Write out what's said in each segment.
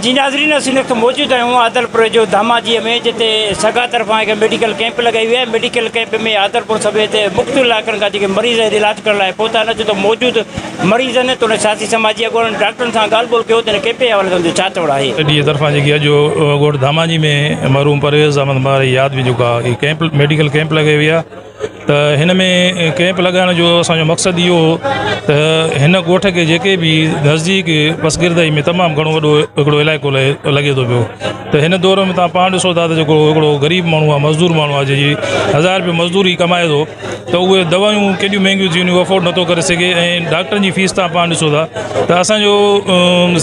جي ناظرين اسين وقت موجود آهيون عادلپور جو ڌاماجي ۾ جتي سگا طرفان هڪ ميڊيڪل ڪيمپ لڳائي وئي آهي ميڊيڪل ڪيمپ ۾ عادلپور سميت مختلف علائقن کان جيڪي مريض هتي علاج ڪرڻ لاء پهتا آهن جتي موجود مريضن تون سياسي سماجي اڳواڻن ڊاڪٽرن سان ڳالهه ٻولهه ڪيو تن ڪيمپ جي حوالي سان جو ڇا چوڻ آهي. ڊي اي طرفان جيڪي اڄ ڳوٺ ڌاماجي ۾ مرحوم پرويز احمد مارئي ياد ۾ جيڪا ڪيمپ ميڊيڪل ڪيمپ لڳائي وئي آهي ته هن ۾ ڪئمپ لڳائڻ جو اسانجو مقصد اهو هو ته هن ڳوٺ کي جيڪي به نزديڪ پس گردائي ۾ تمام گهڻو وڏو هڪڙو علائقو لڳي ٿو پيو ته هن دور ۾ تها پاڻ ڏسو ٿا ته جيڪو هڪڙو غريب ماڻهو آهي مزدور ماڻهو آهي جنهنجي هزار روپيو مزدوري ڪمائي ٿو ته اهي دوائيون ڪيڏيون مهنگيون ٿي وينديون افورڊ نٿو ڪري سگهي ۽ ڊاڪٽرن جي فيس تها پاڻ ڏسو ٿا ته اسانجو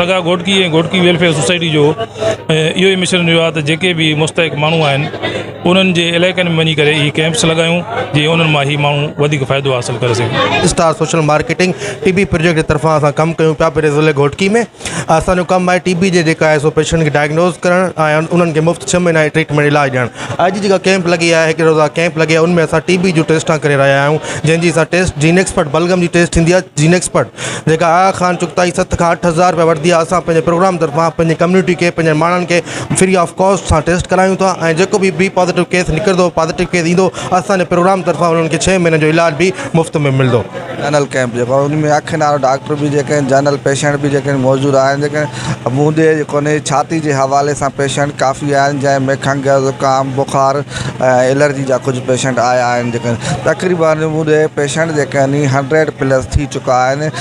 سگا گهوٽڪي ۽ گهوٽڪي ويلفيئر سوسائٽي جو اهو ئي مشن رهيو آهي ته جيڪي به مستحق ماڻهو آهن انهن جي علائقن ۾ وڃي ڪري اهي ڪئمپس لڳايون جيئن انهن مان اهي ماڻهو وڌيڪ فائدو حاصل ڪري سگهن. Star social marketing T B project جي طرفان اسان ڪم ڪيون پيا پهرين ضلعي گهوٽڪي ۾ اسان جو ڪم آهي ٽي بي جي جيڪا آهي سو پيشنٽ کي ڊائگنوز ڪرڻ ۽ انهن کي مفت ڇهه مهينا جي ٽريٽمينٽ علاج ڏيڻ اڄ جيڪا ڪئمپ لڳي آهي هڪڙي روزا ڪئمپ لڳي ان ۾ اسان ٽي بي جون ٽيسٽا ڪري رهيا آهيون جنهن جي اسان ٽيسٽ جينڪسپرٽ بلغم جي ٽيسٽ ٿيندي آهي جينڪسپرٽ جيڪا آغا خان چغتائي ست کان اٺ هزار روپيا وٺندي آهي اسان پنهنجي پروگرام طرفان پنهنجي ڪميونٽي کي پنهنجي ماڻهن کي فري آف ڪاسٽ سان ٽيسٽ ڪرايون ٿا ۽ جيڪو به بي پازيٽو ڪيس نڪرندو پازيٽو ڪيس ايندو اسان جي پروگرام طرفان انهن کي ڇهه مهينن جو علاج به مفت ۾ ملندو. جنرل ڪئمپ جيڪو آهي ان ۾ اکين وارا ڊاڪٽر به جيڪي آهن جنرل پيشنٽ به جيڪي آهن موجود آهن جيڪي آهن منهن ڏي جيڪو آهن ڇاتي جي حوالي سان پيشنٽ ڪافي آهن جنهن ۾ کنگهه زڪام بخار ۽ الرجي جا ڪجهه پيشنٽ آيا آهن جيڪي آهن تقريبان منهن ڏي پيشنٽ جيڪي آهن هنڊريڊ پلس ٿي چڪا آهن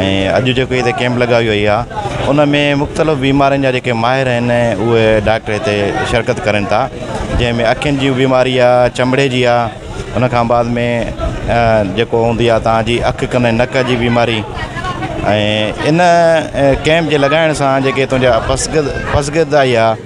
۽ اڄ جيڪو هتي ڪيمپ لڳائي وئي آهي ان ۾ مختلف بيمارين جا جيڪي ماهر آهن اهي ڊاڪٽر هتي شرڪت ڪرين ٿا جنهن ۾ اکين جي بيماري آهي چمڙي جي آهي ان کان بعد ۾ جيڪو هوندي آهي تان جي اک ڪن ۽ نڪ جي بيماري ۽ ان ڪيمپ جي لڳائڻ سان جيڪي تنهنجا پسگرد پسگرد آئي آهي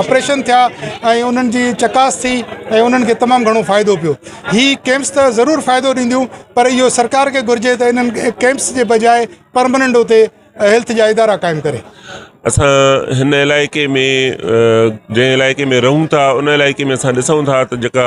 آپريشن ٿيا ۽ انهن جي چڪاس ٿي ۽ انهن کي تمام گهڻو فائدو پيو هي ڪيمپس ته ضرور فائدو ڏينديون پر اهو سرڪار کي گهرجي ته انهن ڪيمپس جي بجاء پرمننٽ اتي هيلٿ جا ادارا قائم ڪري اسان هن علائقي ۾ جنهن علائقي ۾ رهون ٿا ان علائقي ۾ اسان ڏسون ٿا ته جيڪا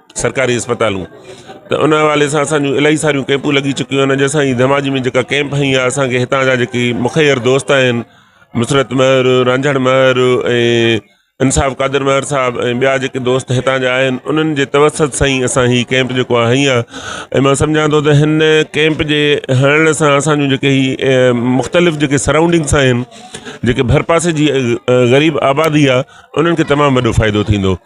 سرڪاري اسپتالون ته ان حوالي سان اسانجون الاهي ساريون ڪيمپون لڳي چڪيون آهن جنهن سان هي ڌماجي ۾ جيڪا ڪيمپ هنئي آهي اسانکي هتان جا جيڪي مخير دوست آهن مسرت مهر رانجهڙ مهر ۽ انصاف قادر مهر صاحب ۽ ٻيا جيڪي دوست هتان جا آهن انهن جي توسط سان ئي اسان هي ڪيمپ جيڪو آهي هنئي آهي ۽ مان سمجهان ٿو ته هن ڪيمپ جي هڻڻ سان اسانجون جيڪي هي مختلف جيڪي سرائونڊنگس آهن جيڪي ڀرپاسي جي غريب آبادي آهي انهن کي تمام وڏو ڦائدو ٿيندو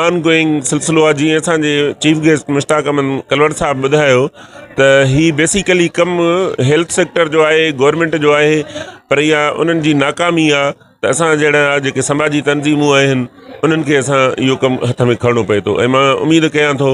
آن گوئنگ سلسلو آهي جيئن اسان جي چيف گيسٽ مشتاق احمد ڪلوڙ صاحب ٻڌايو ته هي بيسيڪلي ڪم هيلٿ سيڪٽر جو آهي گورنمنٽ جو آهي پر اها انهن جي ناڪامي آهي ته اسان جهڙا جيڪي سماجي تنظيمون آهن انهن کي اسان اهو ڪم هٿ ۾ کڻڻو پئي ٿو ۽ مان اميد ڪيان ٿو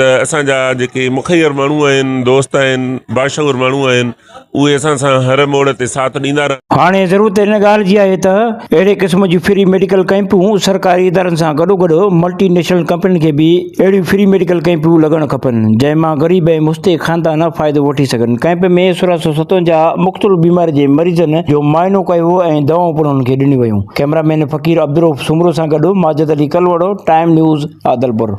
ته اسان جا جيڪي مخير ماڻهو آهن دوست آهن باشعور ماڻهو آهن اهي اسان سان هر موڙ تي ساٿ ڏيندا رهن. هاڻي ضرورت ان ڳالهه جي آهي ته اهڙي قسم جون فري ميڊيڪل ڪئمپون سرڪاري ادارن سان گڏوگڏ ملٽي نيشنل ڪمپنين کي به اهڙيون فري ميڊيڪل ڪئمپون لڳڻ کپن جنهن مان غريب ۽ مستحق خاندان فائدو وٺي سگهن ڪئمپ ۾ سورهن سؤ ستونجاهه مختلف بيمارين جي مريضن جو معائنو ڪيو ويو ۽ دوائون پڻ انهن کي ڏنيون ويون ڪئميرا مين فقير عبدالروف سومرو سان گڏ ماجد علي ڪلهوڙو ٽائيم نيوز عادلپور.